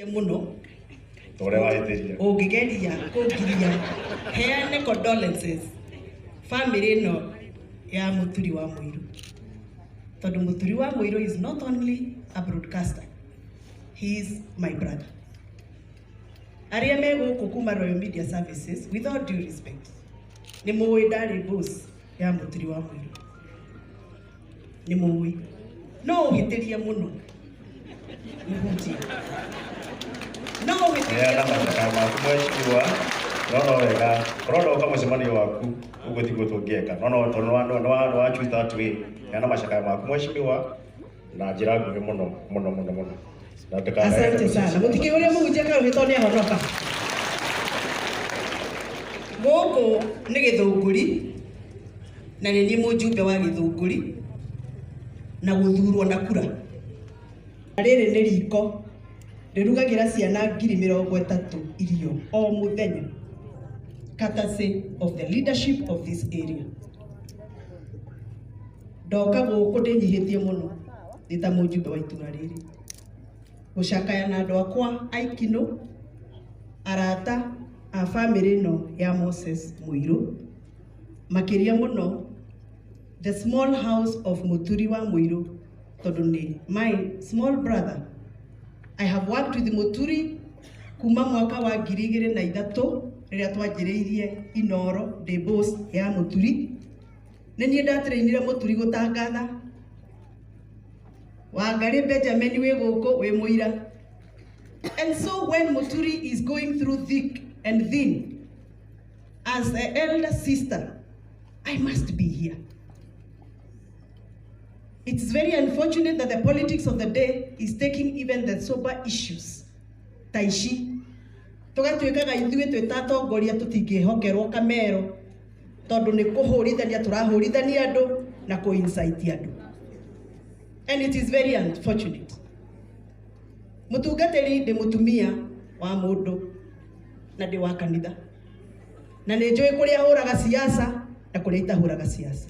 mũno tore waĩtĩria ũngĩgeria kũngiria heane condolences family ĩno ya mũturi wa mũirũ tondũ mũturi wa mũirũ is not only a broadcaster he is my brother arĩa me gũkũ kuma Royal Media Services with all due respect nĩ mũĩ ndarĩ boss ya mũtiri wa mũirũ nĩ mũĩ no ũhĩtĩrie mũno mũhunjia no ũhĩtĩrie Heana mũno mathaka maku mheshimiwa no no wega korwo ndoka mũcemanio waku ũguo tiguo tũngĩeka no no tondũ nĩwa- nĩwa- nĩwachuta atwĩ heana macakaya maku mheshimiwa na njĩra nguhĩ mũno mũno mũno mũno na ndũkanae asante sana mutikio uria muhunjia kau ni tondu niahonoka guku ni githunguri na ni ni mujumbe wa githunguri na guthurwo na kura Na riri ni riko rirugagira ciana ngiri mirongo itatu irio o muthenya courtesy of the leadership of this area ndoka gũkũ ndĩnyihĩtie mũno ndĩ ta mũjumbe wa itũra rĩrĩ gũcakaya na andũ akwa aikino arata a bamĩrĩ ĩno ya Moses Mũirũ makĩria mũno the small house of Mũturi wa Mũirũ tondũ nĩ my small brother I have worked with Mũturi Kuma mwaka wa ngiri igĩrĩ na ithatũ rĩrĩa twanjĩrĩirie Inooro Day Boss ya Mũturi, nĩ niĩ ndatĩrĩinire Mũturi gũtangatha. Wangarĩ Benjamin wĩ gũkũ wĩ mũira. And so when Mũturi is going through thick and thin, as an elder sister, I must be here. It is very unfortunate that the politics of the day is taking even the sober issues ta ici tũgatuĩkaga ithuĩ twĩ ta atongoria tũtingĩhokerwo kamero tondũ nĩ kũhũrithania tũrahũrithania andũ na kũ incite andũ and it is very unfortunate mũtungatĩri ndĩ mũtumia wa mũndũ na ndĩ wa kanitha na nĩ njũĩ kũrĩa hũraga siasa na kũrĩa itahũraga siasa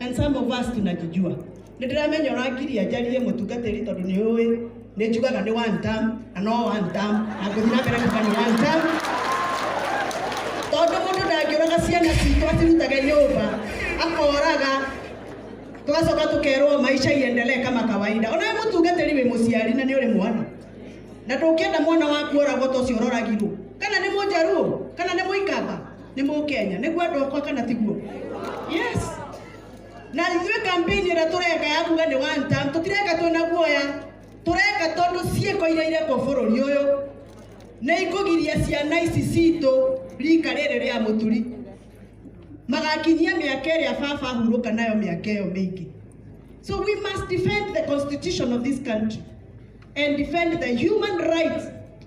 And some of us tunajijua. Nĩ ndĩramenya ũrangiria njarie mũtungatĩri tondũ nĩ ũĩ nĩ njugaga nĩ one term na no one term na ngũthiĩ na mbere kuga nĩ one term tondũ mũndũ ndangĩũraga ciana citũ acirutage nyũmba akoraga tũgacoka tũkerwo maisha iendelee kama kawaida ona we mũtungatĩri wĩ mũciari na nĩ ũrĩ mwana na ndũngĩenda mwana waku oragwo ta ũcio ũroragirwo kana nĩ mũnjaruo kana nĩ mũikamba nĩ mũkenya nĩguo andũ akwa kana tiguo yes na ithuĩ kampeni ĩrĩa tũreka ya kuga nĩ one term tũtireka twĩna guoya tũreka tondũ ciĩko iria irekwo bũrũri ũyũ nĩ ikũgiria ciana ici citũ rika rĩrĩ rĩa mũturi magakinyia mĩaka ĩrĩa baba ahurũka nayo mĩaka ĩyo mĩingĩ so we must defend the constitution of this country and defend the human rights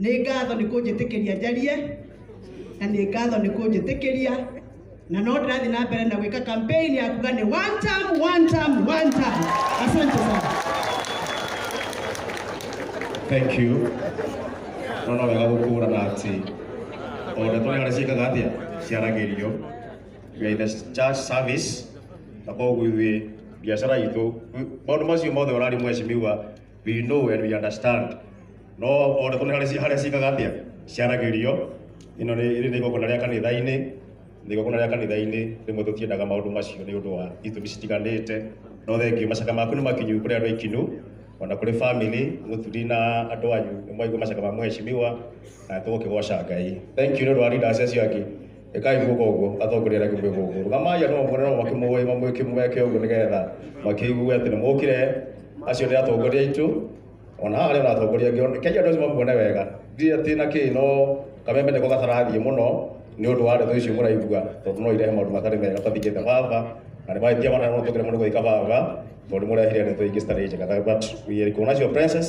Nĩ ngatho nĩ kũnjĩtĩkĩria njarie na nĩ ngatho nĩ kũnjĩtĩkĩria na no ndĩrathiĩ na mbere na gwĩka campaign ya kuga nĩ one term, one term, one term. Asante sana. Thank you. No no wega gũkũrana atĩ o ndeto nĩ harĩa ciĩkaga atĩa ciaragĩrio we are in the church service na koguo ithuĩ biacara itũ maũndũ macio mothe ũrari mwecimiwa We know and we understand. No o ũrĩkũ nĩ harĩa ci- harĩa ciikaga atĩa ciaragĩrio ĩno nĩ ĩrĩ nĩ igongona rĩa kanitha-inĩ nĩ igongona rĩa kanitha-inĩ rĩmwe tũtiendaga maũndũ macio nĩ ũndũ wa itũmi citiganĩte no thengiũ macaka maku nĩ makinyu kũrĩ andũ aikinu ona kũrĩ bamĩrĩ mũturi na andũ anyu nĩ mwaigua macaka ma mũheshimiwa na tũgũkĩgoca ngai thengiũ nĩ ũndũ wa leaders acio angĩ ĩkai guka ũguo atongoria arĩa kĩmwĩ gũkũ rũgamai andũ mamũkore no makĩmũĩ mamwĩkĩmweke ũguo nĩgetha makĩigue atĩ nĩ mũkire acio nĩ atongoria aitũ ona haha harĩ ona atongoria angĩ ona- kenya andũ acio mamuone wega ndirĩ atĩ na kĩ no kameme nĩko gatarathiĩ mũno nĩ ũndũ wa ndeto icio mũraigua tondũ no irehe maũndũ matarĩ mega tathingĩte baba na nĩ mahĩtia mana no tũkĩre mũndũ gũika baba tondũ mũrehire ndeto ingĩ citarĩ njega Tha- but we are kuona cio princess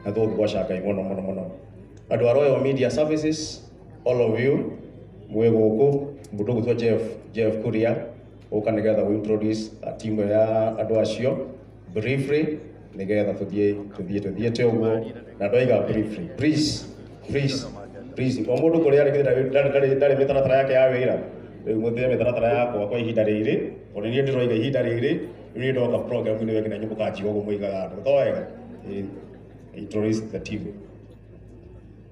na tũgũkĩgoca ngai mũno mũno mũno andũ a royal media services all of you mwĩ gũkũ mũndũ gwĩtwo jeff jeff kuria ũka nĩgetha we introduce a timu ya andũ acio briefly nĩgetha tũthiĩ tũthiĩ tũthiĩ te ũguo na ndoiga briefly please please please o mũndũ kũrĩa arĩ ndarĩ- ndarĩ- ndarĩ- ndarĩ mĩtaratara yake ya wĩra rĩu mũthĩe mĩtaratara yakwa kwa ihinda rĩrĩ tondũ niĩ ndĩroiga ihinda rĩrĩ rĩu niĩ ndoka program nĩ wekina nyũmũ kanjiga ũguo mũigaga andũ to wega Eh, introduce the team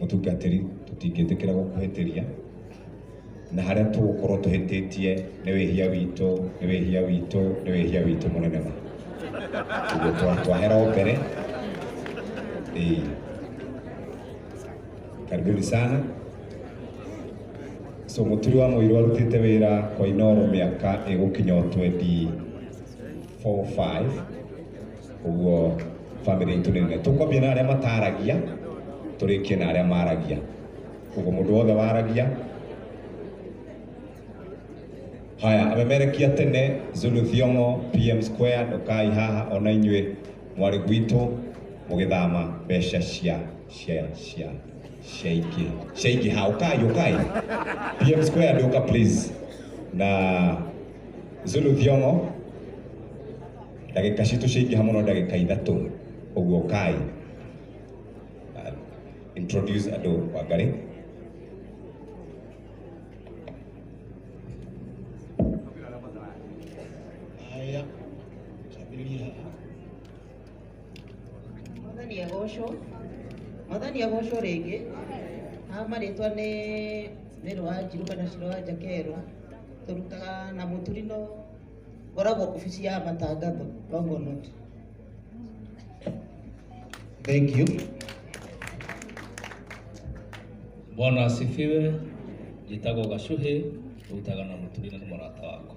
Mũtungatĩri, tũtingĩtĩkĩra gũkũhĩtĩria, na harĩa tũgũkorwo tũhĩtĩtie nĩ wĩhia witũ, nĩ wĩhia witũ, nĩ wĩhia witũ mũnene ma. Ũguo twa- twahera o mbere. Ĩĩ. Karibuni sana. So mũturi wa mũirũ arutĩte wĩra kwa Inooro mĩaka ĩgũkinya o 24 5 ũguo family itũ nene tũkwambia na arĩa mataragia tũrĩkie na arĩa maragia ũguo mũndũ wothe waragia haya amemerekia tene zulu thiongo pm square ndukai haha ona inyuĩ mwarĩ gwitũ mũgĩthama mbeca cia cia cia ciaingĩ ciaingĩ ha ũkai ũkai pm square ndũka please na zulu thiongo ndagĩka citũ ciaingĩha mũno ndagĩka ithatũ ũguo kai uh, introduce andũ wangarĩ Haya, tabiria haha. mwathani agocwo mwathani agocwo rĩngĩ haha marĩtwa nĩ mĩrũ wa njirũ kana cirũ wa njakerũ tũrutaga na mũturino Ngoragwo obici ya matangatho Longonot. Thank you. Bwana asifiwe. Njĩtagwo Gacuhĩ, ũrutaga na mũtumia na mũrata wakwa.